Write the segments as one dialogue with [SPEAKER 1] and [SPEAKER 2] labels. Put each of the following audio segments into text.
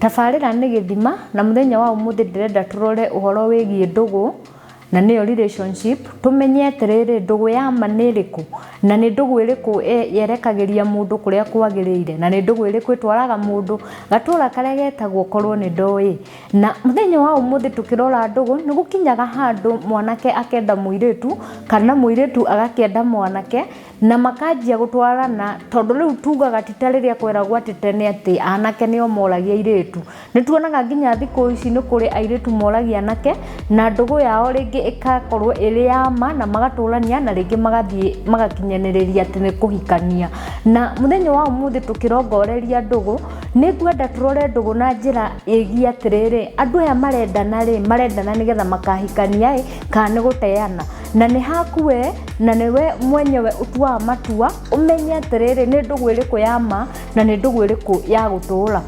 [SPEAKER 1] Tabarĩra nĩ gĩthima na mũthenya wa ũmũthĩ ndĩrenda tũrore ũhoro wĩgiĩ ndũgũ na nĩyo relationship. Tũmenye atĩrĩrĩ ndũgũ ya ma nĩ ĩrĩkũ na nĩ ndũgũ ĩrĩkũ yerekagĩria mũndũ kũrĩa kwagĩrĩire na nĩ ndũgũ ĩrĩkũ ĩtwaraga mũndũ gatũra karĩa getagwo korwo nĩ ndoĩ. Na mũthenya wa ũmũthĩ tũkĩrora ndũgũ nĩ gũkinyaga handũ mwanake akenda mũirĩtu kana mũirĩtu agakĩenda mwanake. na makanjia gũtwarana tondũ rĩu tugaga ti ta rĩrĩa kweragwo atĩ tene atĩ anake nĩo moragia airĩtu nĩ tuonaga nginya thikũ ici nĩ kũrĩ airĩtu moragia anake na ndũgũ yao rĩngĩ ĩgakorwo ĩrĩ ya ma na magatũrania na rĩngĩ magathiĩ magakinyanĩrĩria atĩ nĩ kũhikania na mũthenya wa ũmũthĩ tũkĩrongoreria ndũgũ nĩ ngwenda tũrore ndũgũ na njĩra ĩgiĩ atĩrĩrĩ andũ aya marendana rĩ marendana nĩgetha makahikania ĩ kana nĩ gũteana na nĩ haku we na nĩ we mwenyewe ũtuaga matua ũmenye atĩrĩrĩ nĩ ndũgũ ĩrĩkũ ya ma na nĩ ndũgũ ĩrĩkũ ya gũtũũra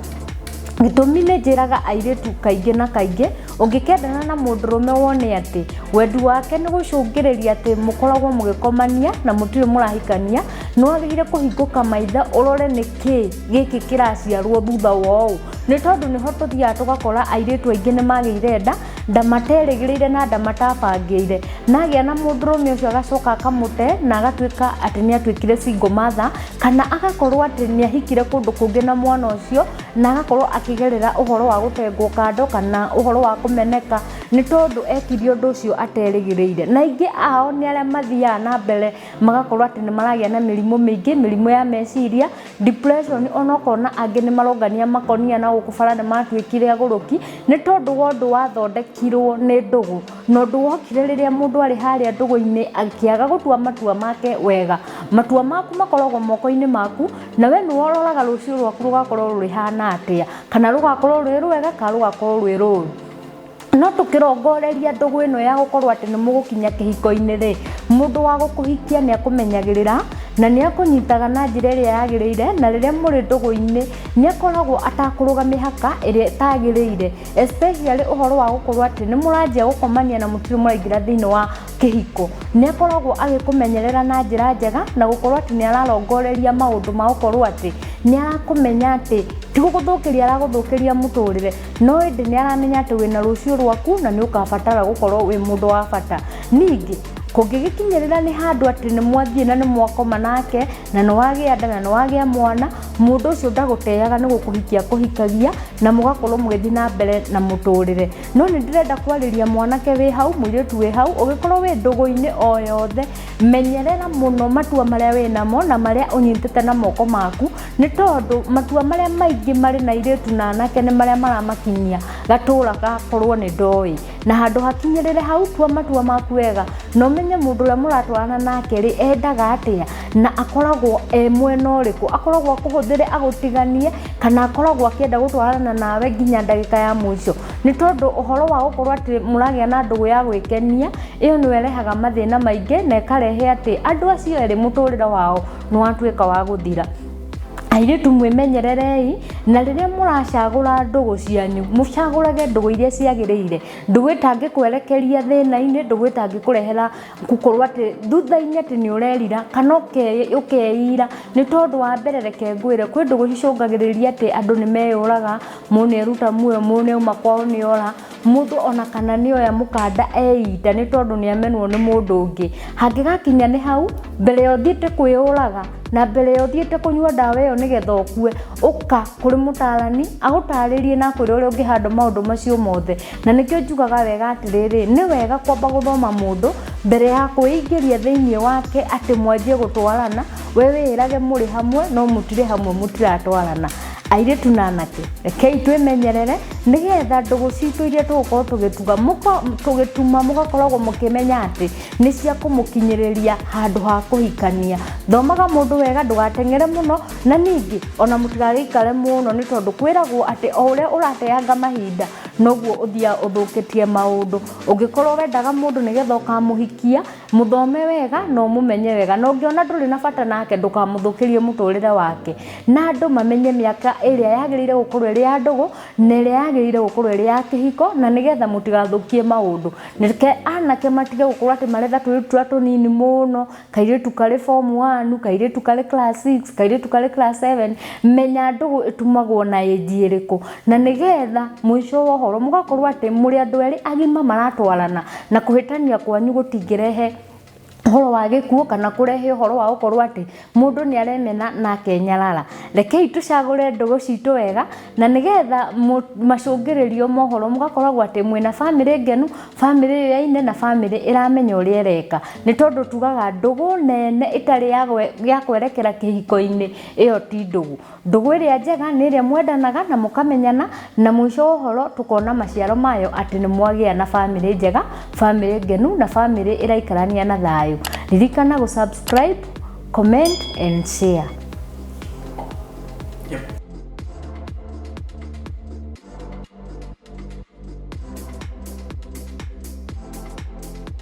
[SPEAKER 1] gĩtũmi nĩ njĩraga airĩtu kaingĩ na kaingĩ ũngĩkendana na mũndũrũme wone atĩ wendi wake nĩ gũcũngĩrĩria atĩ mũkoragwo mũgĩkomania na mũtirĩ mũrahikania nĩ wagĩrĩire kũhingũka maitho ũrore nĩ kĩ gĩkĩ kĩraciarwo thutha wa ũũ nĩ tondũ nĩho tũthiaga tũgakora airĩtu aingĩ nĩ magĩire nda ndamaterĩgĩrĩire na ndamatafangĩire na agĩa na mũndũrũme ũcio agacoka akamũte na agatuĩka atĩ nĩ atuĩkire single mother kana agakorwo atĩ nĩ ahikire kũndũ kũngĩ na mwana ũcio na agakorwo akĩgerera ũhoro wa gũtengwo kando kana ũhoro wa kũmeneka nĩ tondũ ekirie ũndũ ũcio aterĩgĩrĩire na aingĩ ao nĩ arĩa mathiaga na mbere magakorwo atĩ nĩ maragĩa na mĩrimũ mĩingĩ mĩrimũ ya meciria depression ona ũkona angĩ nĩ marongania makonia na gũkũ bara nĩ matuĩkire agũrũki nĩ tondũ wa ũndũ wathondekirwo nĩ ndũgũ na ũndũ wokire rĩrĩa mũndũ arĩ harĩa ndũgũ-inĩ akĩaga gũtua matua make wega matua maku makoragwo moko-inĩ maku na we nĩwe ũroraga rũciũ rwaku rũgakorwo rũhana atĩa kana rũgakorwo rwĩ rwega kana rũgakorwo rwĩ rũru. no tũkĩrongoreria ndũgũ ĩno ya gũkorwo atĩ nĩ mũgũkinya kĩhiko-inĩ rĩ mũndũ wa gũkũhikia nĩ akũmenyagĩrĩra na nĩ akũnyitaga na njĩra ĩrĩa yagĩrĩire na rĩrĩa mũrĩ ndũgũ-inĩ nĩ akoragwo atakũrũga mĩhaka ĩrĩa ĩtagĩrĩire especially ũhoro wa gũkorwo atĩ nĩ mũranjia gũkomania na mũtirĩ mũraingĩra thĩinĩ wa kĩhiko nĩ akoragwo agĩkũmenyerera na njĩra njega na gũkorwo atĩ nĩ ararongoreria maũndũ ma gũkorwo atĩ nĩ arakũmenya atĩ ti gũgũthũkĩria aragũthũkĩria mũtũrĩre. no ĩndĩ nĩ aramenya atĩ wĩna rũciũ rwaku na nĩ ũkabatara gũkorwo wĩ mũndũ wa bata ningĩ kũngĩgĩkinyĩrĩra nĩ handũ atĩ nĩ mwathiĩ na nĩ mwakoma nake na nĩ wagĩa nda na nĩ wagĩa mwana mũndũ ũcio ndagũteaga nĩ gũkũhikia kũhikagia na mũgakorwo mũgĩthiĩ na mbere na mũtũrĩre no nĩ ndĩrenda kwarĩria mwanake wĩ hau mũirĩtu wĩ hau ũgĩkorwo wĩ ndũgũ-inĩ o yothe menyerera mũno matua marĩa wĩ namo na marĩa ũnyitĩte na moko maku Nĩ tondũ matua marĩa maingĩ marĩ na airĩtu na anake nĩ marĩa maramakinyia gatũũra gakorwo nĩ ndoĩ na handũ hakinyĩrĩre hau tua matua maku wega na ũmenye mũndũ ũrĩa mũratwarana nake rĩ endaga atĩa na akoragwo e mwena ũrĩkũ akoragwo akũhũthĩre agũtiganie kana akoragwo akĩenda gũtwarana nawe nginya ndagĩka ya mũico nĩ tondũ ũhoro wa gũkorwo atĩ mũragĩa na ndũgũ ya gwĩkenia ĩyo nĩyo ĩrehaga mathĩna maingĩ na ĩkarehe atĩ andũ acio erĩ mũtũrĩre wao nĩ watuĩka wa gũthira airĩtu mwĩmenyererei na rĩrĩa mũracagũra ndũgũ cianyu mũcagũrage ndũgũ iria ciagĩrĩire ndũgũ ĩtangĩkwerekeria thĩna-inĩ ndũgũ ĩtangĩkũrehera gũkorwo atĩ thutha-inĩ atĩ nĩ ũrerira kana ũke- ũkeira nĩ tondũ wa mbere reke ngwĩre kwĩ ndũgũ cicũngagĩrĩria atĩ andũ nĩ meyũraga mũndũ nĩ eruta muoyo mũndũ nĩ auma kwao nĩ ora mũndũ ona kana nĩ oya mũkanda eita nĩ tondũ nĩ amenwo nĩ mũndũ ũngĩ hangĩgakinya nĩ hau mbere ya ũthiĩte kwĩyũraga na mbere ya ũthiĩte kũnyua ndawa ĩyo nĩgetha ũkue ũka kũrĩ mũtarani agũtarĩrie na akwĩre ũrĩa ũngĩhandle maũndũ macio mothe na nĩkĩo njugaga wega atĩrĩrĩ nĩ wega kwamba gũthoma mũndũ mbere ya kwĩingĩria thĩinĩ wake atĩ mwanjie gũtwarana we wĩĩrage mũrĩ hamwe no mũtirĩ hamwe mũtiratwarana Airĩtu na anake, rekei twĩmenyerere nĩgetha ndũgũ citũ iria tũgũkorwo tũgĩtuga mũko- tũgĩtuma mũgakoragwo mũkĩmenya atĩ nĩ cia kũmũkinyĩrĩria handũ ha kũhikania. Thomaga mũndũ wega ndũgateng'ere mũno na ningĩ ona mũtigagĩikare mũno nĩ tondũ kwĩragwo atĩ o ũrĩa ũrateanga mahinda noguo ũthiaga ũthũkĩtie maũndũ. Ũngĩkorwo wendaga mũndũ nĩgetha ũkamũhikia... Mũthome wega na ũmũmenye wega, na ũngĩona ndũrĩ na bata nake ndũkamũthũkĩrie mũtũrĩre wake. Na andũ mamenye mĩaka ĩrĩa yagĩrĩire gũkorwo ĩrĩ ya ndũgũ na ĩrĩa yagĩrĩire gũkorwo ĩrĩ ya kĩhiko, na nĩgetha mũtigathũkie maũndũ. Reke anake matige gũkorwo atĩ maretha tũirĩtu tũrĩa tũnini mũno, kairĩtu karĩ form one, kairĩtu karĩ class six, kairĩtu karĩ class seven. Menya ndũgũ ĩtumagwo na age ĩrĩkũ. na nĩgetha mũico wa ũhoro mũgakorwo atĩ mũrĩ andũ erĩ agima maratwarana na kũhĩtania kwanyu gũtingĩrehe ũhoro wa gĩkuũ kana kũrehe ũhoro wa gũkorwo atĩ mũndũ nĩ aremena na akenyarara rekei tũcagũre ndũgũ citũ wega na nĩgetha mũ- macũngĩrĩrio mohoro mũgakoragwo atĩ mwĩna bamĩrĩ ngenu bamĩrĩ yoyaine na bamĩrĩ ĩramenya ũrĩa ĩreka nĩ tondũ tugaga ndũgũ nene ĩtarĩ ya gwe- ya kwerekera kĩhiko-inĩ ĩyo ti ndũgũ Ndũgũ ĩrĩa njega nĩ ĩrĩa mwendanaga na mũkamenyana na mũico wa ũhoro tũkona maciaro mayo atĩ nĩ mwagĩa na bamĩrĩ njega, bamĩrĩ ngenu na bamĩrĩ ĩraikarania na thayũ. Ririkana gũ subscribe, comment and share.